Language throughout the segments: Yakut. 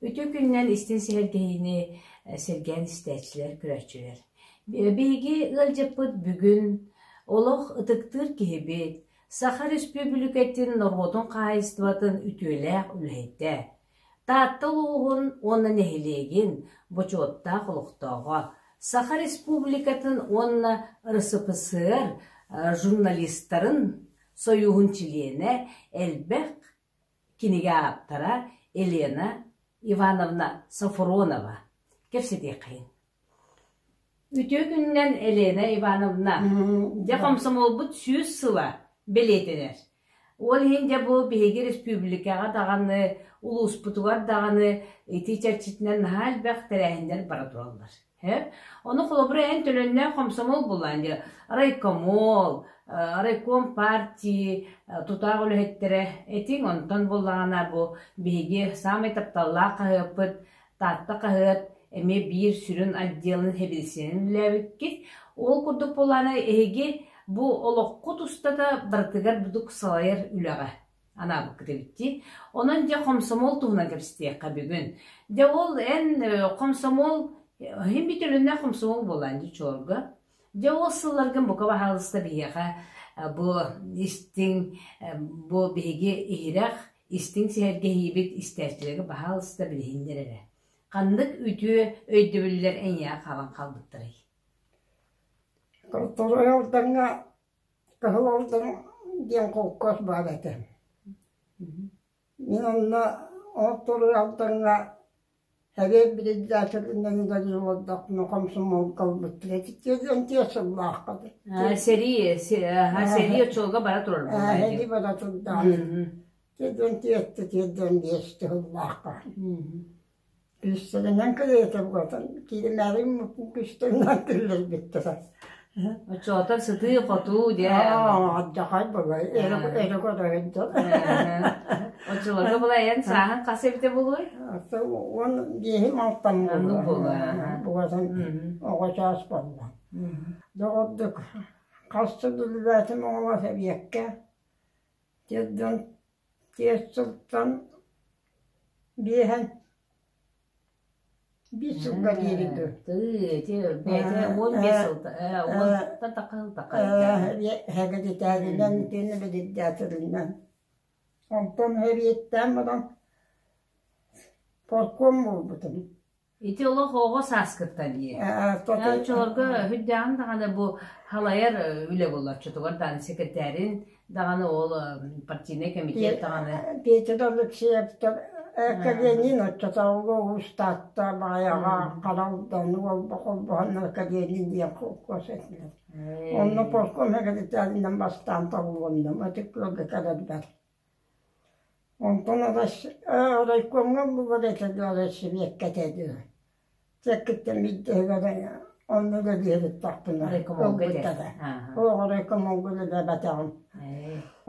Үтүө күнүнэн истин сэһэргэһиини сэргээн истээччилэр көрөөччүлэр. Биһиги ыалдьыппыт бүгүн олох ытыктыыр киһибит, Саха Республикатын норуотун хаһайыстыбатын үтүөлээх үлэһитэ, Таатта улууһун уонна нэһилиэгин бочуоттаах олохтооҕо, Саха Республикатын уонна РСФСР журналистарын сойууһун чилиэнэ, элбэх кинигэ ааптара Елена Ивановна Софронова. Кэпсэтиэххин. Үтүө күнүнэн, Елена Ивановна! Дьэ, хомсомуолбут сүүс сыла бэлиэтэнэр. Ол иһин дьэ бу биһиги республикаҕа даҕаны, улууспутугар даҕаны итии чэрчитинэн наһаа элбэх тэрээһиннэр бара тураллар. Ээ? Ону холобура эн төлөннөөх хомсомуол булаан дьэ райкомол, э, райком партии, э, тутаах үлэһиттэрэ этиҥ онтон буоллаҕына бу биһиги саамай тапталлаах хаһыаппыт Таатта хаһыат эмиэ биир сүрүн отделын сэбиэдиссэйинэн үлэлээбиккит. Ол курдук буоллаҕына, эһиги бу олоххут устата барытыгар бурдук салайар үлэҕэ анаабыккыт эбит дии. Онон дьэ хомсомуол туһунан кэпсэтиэххэ бүгүн. Дьэ ол эн э, хомсомуол э, иһин бүтөлүннэ хомсомуол буоллаан дии чуорга. Дьэ ол сылларгын бука баһаалыста биһиэхэ э, бу истиҥ э, бу биһиги иһирэх, истиҥ сэһэргэһиибит истээччилэргэ баһаалыста билиһиннэр эрэ. Ханнык үтүө өйдөбүллэр эйиэхэ хаалан хаалбыттарый? Тоттор Ылдаҥҥа Кыһыл Алдан диэн холкуос баар этэ. Мин онно ол туруй Алдаҥҥа сэбиэт биридээсэлинэн дагы олордохпуна комсомолга ылбыт тиэтиккэ диэн тиэс сыллаахха дии. Аа сэрии аа сэрии оччолорго бара турар буолла ээ сэрии бара турдаҕа дии. Тиэрдэн тиэртэ тиэрдэн биэсти сыллаахха. Күүстэринэн кылыйытым кутан кииримээбин күүстэн тиллэрбиттэрэ Оччоотор сытыы-хотуу дьэ Адьахай былай эрэ көрөһөн дьон Оччолорго былай эн сааһын хас эбитэ булуой? Уон биэһим алтан буолуо Бугатын оҕо чаас буолла Доҕордук хас да үлэлээтим оҕолоох эбиэккэ Тиэрдэн Түөрт сылтан биэһэ биир сылга диэри дуу онтон эбиэттээн баран полком буолбутум Ити олох оҕо сааскыта дии. Э, оччолорго үрдээҕин даҕаны бу халайар үлэ болоччутугар даҕаны секретарин даҕаны ол партийнай комитет даҕаны Петр Алексеев Каленин оччотооҕуга уус Таатта баҕайаҕа Харалдан холбоһоннор Каленин диэн холкуос этилэр. Онно полком секретаринан бастаан талылынным, ытык ыалга кэлэрбэр. Онтон райкомҥа булар этэ дуо, сибиэккэ этэ дуу, чэккиттэн биирдэһигэр онно да биэриттахпына ылбыттара, оо райкомҥа үлэлээбэтэҕим,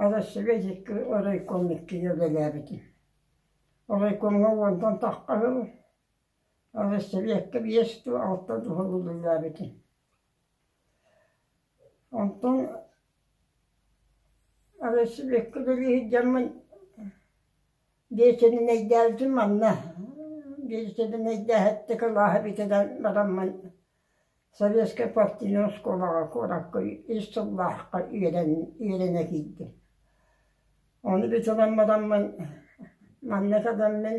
Арассыыйа райком иккигэ үлэлээбитим. Райкомҥа уонтан тахха сыл, Арассыыйа биэс дуу, алта дуу сыл үлэлээбитим. Онтон велосипедка дылы иһирдьэммин биэчэринэйдээбитим манна, биэчэринэйдээһиттэ кылааһа эбитэ да бараммын Советскай партийнай оскуолаҕа куоракка ис сыллаахха үөрэнэ киирдим. Ону битинэн бараммын манна кэлэммин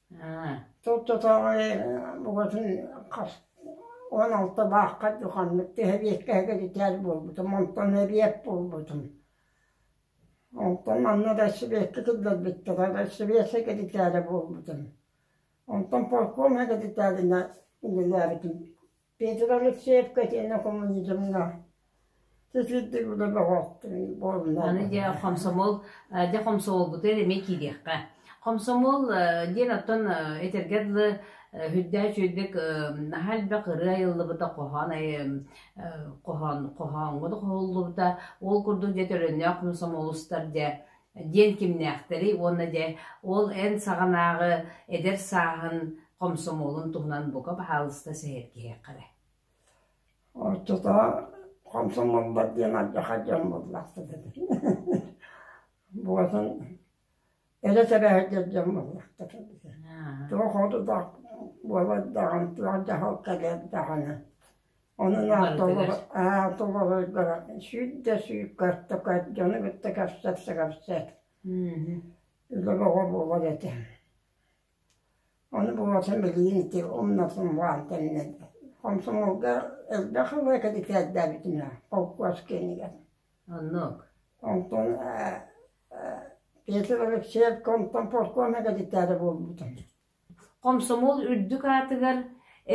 Турдатааҕы букатын хас уон алта баахха ханнык сэбиэскэһэ кэтитээр буолбутум, онтон эбиэт буолбутум. Онтон манна да сэбиэскэ киллэрбиттэрэ, сэбиэскэ кэтитээрэ буолбутум. Онтон полкуома кэтитээринэ үлэлээбитим. Петр Алексеевкэ тиэнэ хомулдьутунна сысыддыгыла бөҕөхтүн буолла. Аны дьэ хомсомол дьэ хомсомолбутугар эмиэ киириэххэ. Хомсомол диэн оттон этэргэ дылы үрдээх чүөлбек наһаа элбэх ырыа айыллыбыта хоһоон хоһоон хоһооҥҥо да хоһуллубута ол курдук дьэ төлөннөөх хомсомол устар дьэ диэн кимнээхтэрий уонна дьэ ол эн саҕанааҕы эдэр сааһын хомсомуолун туһунан бука баһаалыста сэһэргиһиэххэ эрэ ортотоох хомсомуолбар диэн ардаха дьон буллахтар буотун эрэ сэбэһэрдэр дьон буллахтар туох одутах буолар даҕан туох дьаһал кэлэр даҕаны Онон аата олоро аата олорордоро сүүт да сүүт картока дьону кытта кэпсэт-кэпсэт өлөр оҕо буолар этэ. Ону бубатын билиин ити умнатым баан тэннэ хомсомолга элбэх ыла кэдикээрдээбитим я холкуос кэнигэр. Оннук. Онтон Петр Алексеевка онтон полкома кэдикээрэ буолбутум. Хомсомуол үрдүк аатыгар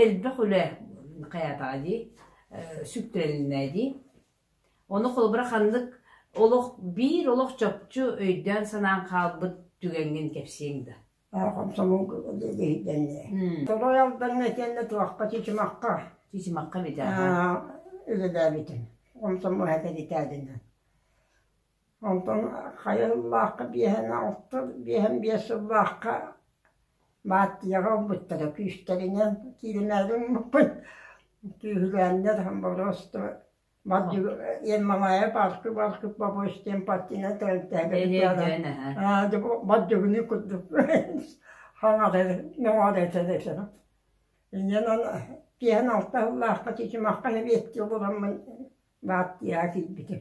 элбэх үлэ хайаатаҕа дии, сүктэрилинэ дии. Ону холобура ханнык олох биир олох чопчу өйдөөн-санаан хаалбыт түгэҥҥин кэпсиэҥ да? Хомсомуол иһитиннэ. Торой Алдаҥҥа итиэннэ туохха, Чычымахха. Чычымахха эбитэ. Үлэлээбитим. Хомсомуол эһэтэ ритаадынан. Онтон хайа сыллаахха биэһэнэ алта, биэһэн биэс сыллаахха Баартыйаҕа ылбыттара күүстэринэн кииримээри гыммыппын. Күүһүлээннэр Хомболоостово Ен Малая Балкы Балкы Побочь диэн партийнан тэрилтэлэрин Бадьыгыны курдук биэһэн алта сыллаахха Чычымахха нэбиэттии олороммун баартыйаҕа киирбитим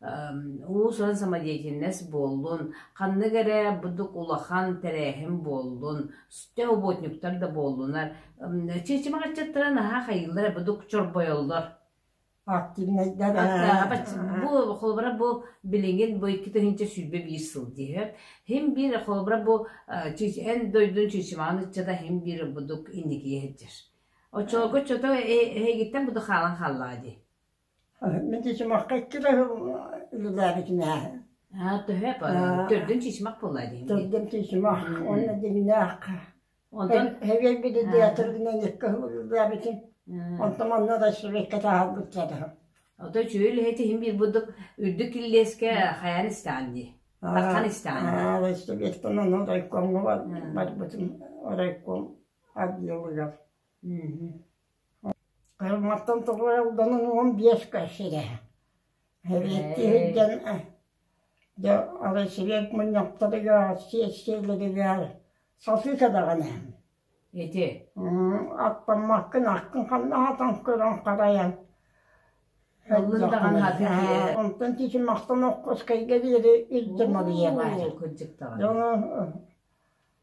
уус-уран самодеятельность буоллун, ханнык эрэ будук улахан тэрээһин буоллун, сүтэ уботниктар да буоллунар. Чичимэ хаччыттара наһаа хайыллар будук чорбойоллор. Активность-дэр. Бу холобура бу билиҥҥин бу икки тыһыынча сүүрбэ биир сыл диэбэт. Хим биир холобура бу эн дойдун чичимаан ыччата хим биир будук инникие сылдьар. Оччолорго чото эһигиттэн буду хаалан хааллаа дии. Мин дьимахха икки да үлэлээбитим ээ. Аа, төһө төрдүн тиисимэх буолла дии. Төрдүн тиисимэх уонна дьиҥнээх. Онтон Хэбиэрбиди театрынан икки хыл үлэлээбитим. Онтон онно да швейка таһаарбыт дьада. Ото үчүгэй үлэһит иһин биир бурдук үрдүк киллиэскэ хайаан истээн дии. Тархан истээн. Аа, Вестебеттон ону райкомга барбытым. Райком отделыгар. Кырыматтан тоҕо Алданан уон биэска сирэ Эриэккэ сылдьан дьэ Аласеек мунньахтарыгар сиэссийэлэригэр сатыыта даҕаны ити аттаммаккын аккын ханна аһатан көрөн харайан ыллын даҕаны атыытыйа онтон тиити махтан Оккуоскайга диэри илдьэ маныйыаҕа дьоно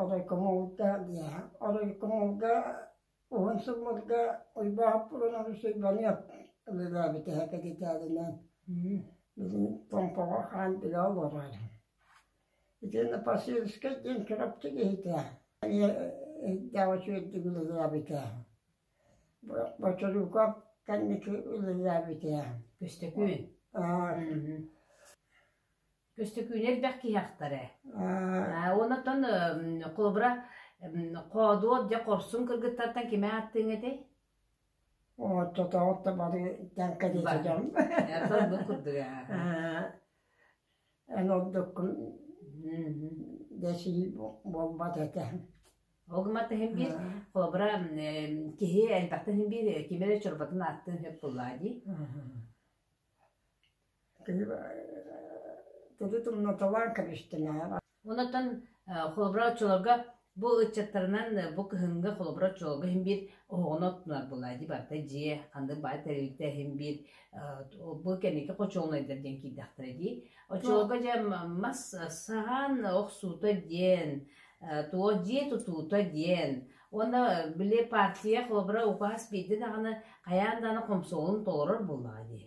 Оройкомолга оройкомолга уһун сылларга Уйбаахаппылан Арусуйбаныап ылылаабыт эһэ кэпитээлинэн билигин Томпоҕо хаан билэ олорор. Итиэннэ Посельскай диэн Чурапчы киһитэ эмиэ иһиттээх үчүгэйдик ылылаабыта. Бочоруукап кэнники ылылаабыта. Көстөкүүн. Аа Көстөкүүнэ элбэх киһи ахтара. Э, Уонна оттон э, холобура м, хоодуот дьэ хорсун кыргыттартан кими ааттыаҥ этэй? Оттотоҕут да бары тэҥкэ диэтэ Бар. дьон. Э, Талбыт курдук аа. Аа, Эн ордуккун Мгм. дэсил буолбат этэ. Ол гыммат иһин биир холобура м, э, киһи элбэхтэн иһин биир кими эрэ чорботун ааттыан сөп буоллаа дии. Онон холобура оччолорго бу ыччаттарынан бу кыһыҥҥы холобура оччолорго иһин биир оһоҕону оттунар буолла. Ити барыта дьиэ, ханнык баар тэрилтэ иһин биир бу кэнники хочуолунайдар диэн киирдэхтэрэ дии. Оччолорго дьэ мас саһаан охсуута диэн, туо дьиэ тутуута диэн, уонна били партия холобура укаас биирдэ даҕаны хайаан даҕаны хомсоҕолун толорор буоллаҕа дии.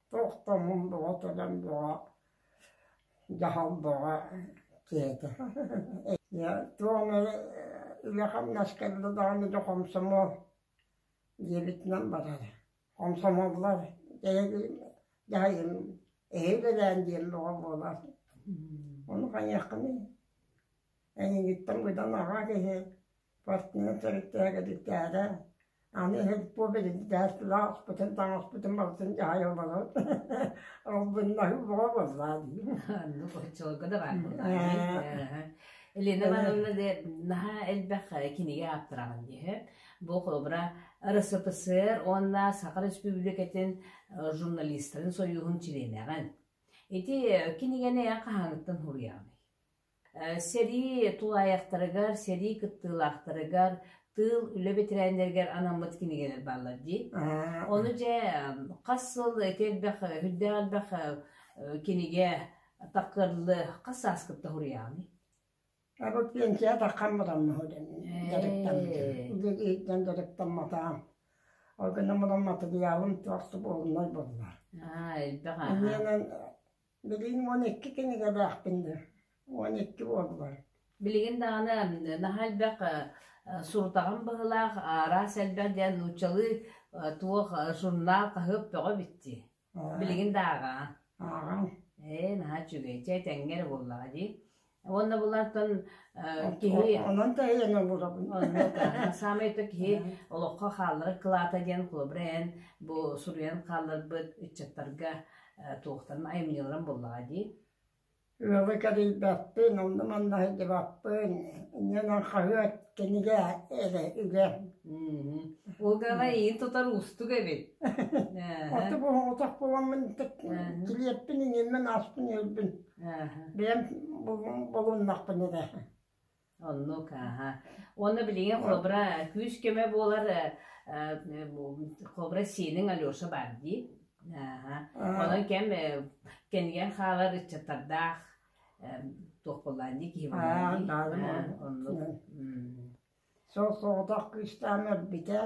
Туох да муҥ бөҕө кэлэн бөҕө дьаһал бөҕө кээтэ Ийэ туох эрэ илэ-хамнас кэллэ даҕаны дьэ хомсомуол диэбитинэн барара хомсомуоллар дьаһайым эһиил элээн диэн бөҕө буолар ону хайыаххыный Эйигиттэн быданнаҕа киһи спортивнай төрүттээгэдиктээҕэ, аны иһин бу билинтэхпитин таҥаспытын барытын дьаһайа олорор албыннаһыы бөҕө буоллаа дии Аны боччолго да баар Елена Ивановна наһаа элбэх кинигэ ааптараҕын үһү бу холобура РСФСР уонна Саха Республикатын журналистарын сойууһун чилиэнэҕин ити кинигэни хаһааҥҥыттан суруйаҕыный Сэрии тулаайахтарыгар, сэрии кыттыылаахтарыгар, тыыл, үлэ бэтэрээннэригэр анаммыт кинигэлэр бааллар дии. Ону дьэ хас сыл ити элбэх үрдээх элбэх кинигэ тахкырлы хас сааскыт да суруйаҕыный? Абы пенсия таххаммытам дьарыктаммытым дьарыктамматаҕым ол гынан мадамматыгыйаалым туохсу буолунай буолла аа элбэх аа Билигин уон икки кинигэлээхпин дуо? Уон икки буоллар. Билигин даҕаны наһаа элбэх сурутаҕым быһыылаах «Араас элбэх» диэн нууччалыы туох журнал хаһыат бөҕө бүттүү. Билигин да ааҕаҕын. Ааҕаҥ. Ээ, наһаа үчүгэй. Чэ, этэҥҥэ эрэ буоллаҕа дии. Уонна булантан киһи онон тэйэн обурабын. Онно саамай то киһи олоххо хаалларар кылаата диэн холобура эн бу суруйан хаалларбыт ыччаттарга туохтарын айымньыларын буллаҕа дии. Ыалы кэрийбэппин, онно манна сылдьыбаппын, иннинэн хаһыат кинигэ эрэ үлэ. Угаҕа иин тутар уустук эбит. Оту буһуотах буламмын килиэппин иҥиммин ааспын өлбүн. Бэйэм булуннахпын эрэ Оннук, аһа. Уонна билиҥҥи хобра күүс-көмө буолар хобра сиэнин Алеша баар дии. Аһа. Онон кэм кэнигэн хаалар ыччаттардаах туох буоллаан дии киһи буоллаан Оннук. Сол соҕотох кыыстаам өлбүтэ.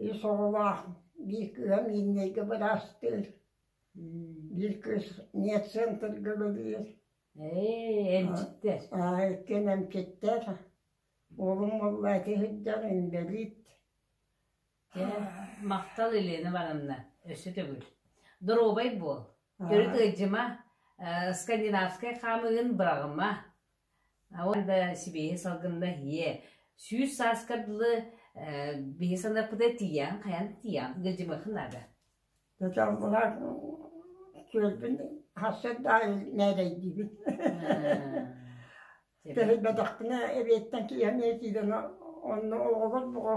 Үс оҕолоох биир кыһам ииннэйгэ быраастыыр. Бииркис нетцентрга үлэлиир аа иккиэн эмчиттэр уолум муллааччы сылдьар инбэлиит махтал Елена Ивановна өссө төгүл доруобай буол төрүт ыйдьыма скандинавскай хаамыгын быраҕыма сибиэһи салгынна ийэ сүүс сааска дылы биһи санаппыта тиийэн хайан тиийэн гылдьымыхын наада Дьалбылаан күөлбүн хас сырда нээрэйдиибин. Тэһийбэтэхпинэ эбиэттэн киһи эмиэ киирэн онно оҕолор бөҕө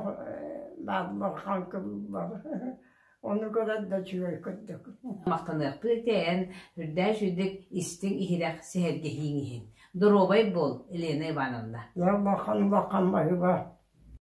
бааллар хаҥкылыыллар. Ону көрөн да үчүгэй курдук. Махтаныахтыы тэйэн, үрдээш үрдүк истиҥ-иһирэх сэһэргэһииҥ иһин. Доруобай буол, Елена Ивановна. Ялмахан-улахан майыба.